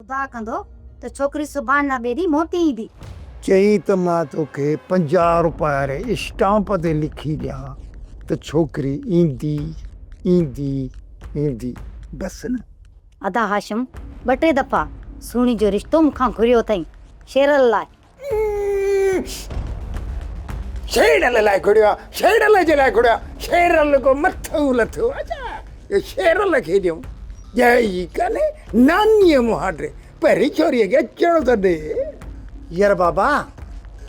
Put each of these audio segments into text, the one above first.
خدا ڪندو ته ڇوڪري سڀاڻ نه ٻئي ڏينهن موٽي ايندي. چئي ته مان توکي پنجاهه روپيه واري اسٽامپ تي لکي ڏيان ته ڇوڪري ايندي ايندي ايندي بس نه. ادا هاشم ٻه ٽي دفعا سهڻي جو رشتو مون کان گهريو اٿئي شيرل لاء. شيرل لاء گهڙيو آ شيرل جي لاء گهڙيو آ شيرل ڪو مٿو لٿو آ ڇا جو شيرل کي ڏيون جاء ئي ڪانهي نانيء مهاٽي پهرين ڇوريء کي اچڻ ته ڏي. ير بابا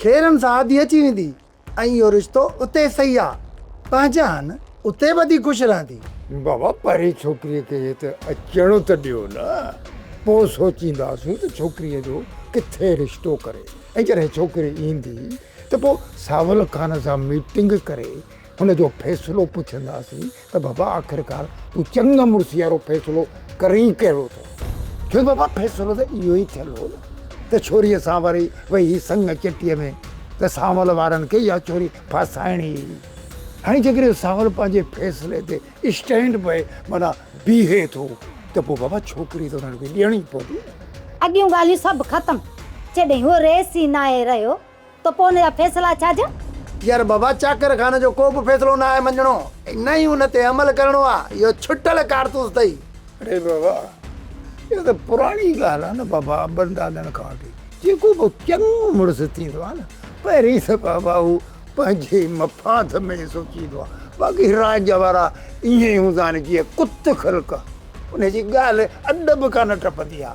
کيرن سان آڌي اچي ويندي ۽ اهو رشتو اتي صحيح آ. پنهنجا آهن. اتي ٻڌي خوش رهندي. بابا پرين ڇوڪريء کي هت اچڻ ته ڏيو نه. پوء سوچينداسون ته ڇوڪريء جو ڪٿي رشتو ڪري ۽ جڏهن ڇوڪري ايندي ته پوء ساول خان سان ميٽنگ ڪري هن جو فيصلو پڇنداسين. ته بابا آخرڪار تون چڱ مڙس جهڙو فيصلو ڪرين ڪهڙو ٿو ڇو بابا فيصلو ته اهو ئي ٿيل هو نه ته ڇوريء سان وري ويهي سڱ چٽيء ۾ ته سانول وارن کي اها ڇوري ڦاسائڻي ئي هئي هاڻي جيڪڏهن سانول پنهنجي فيصلي تي اسٽينڊ بئي معنيٰ بيهي ٿو ته پوء بابا ڇوڪري ته انهن کي ڏيڻي پوندي نه. اڳيون ڳالهيون سڀ ختم جڏهن هو ريس ئي ناهي رهيو. ته پوء ان جا فيصلا ڇا جا؟ يار بابا چاڪر خان جو ڪو به فيصلو نه آهي مڃڻو ۽ نه ئي ان تي عمل ڪرڻو آ اهو ڇٽل ڪارتوس اٿئي. اڙي بابا اها ته پراڻي ڳالهه آ نه بابا ابن دادن کان وٺي جيڪو به چڱو مڙس ٿيندو آ نه پهرين ته بابا هو پنهنجي مفاد ۾ ئي سوچيندو آ باقي راڄ وارا ائين هوندا آهن جيئن ڪت خلق انهي جي ڳالهه اڏ به ڪانه ٽپندي آ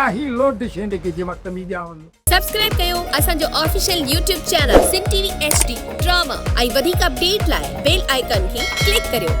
آهي لوڊ شينڊڪي جي وقت ۾ ڄاون. سبسڪرائب ڪيو اسان جو official YouTube channel Sindh T V H D drama ۽ وڌيڪ اپڊيٽ لاء بيل آئيڪان کي ڪلڪ ڪريو.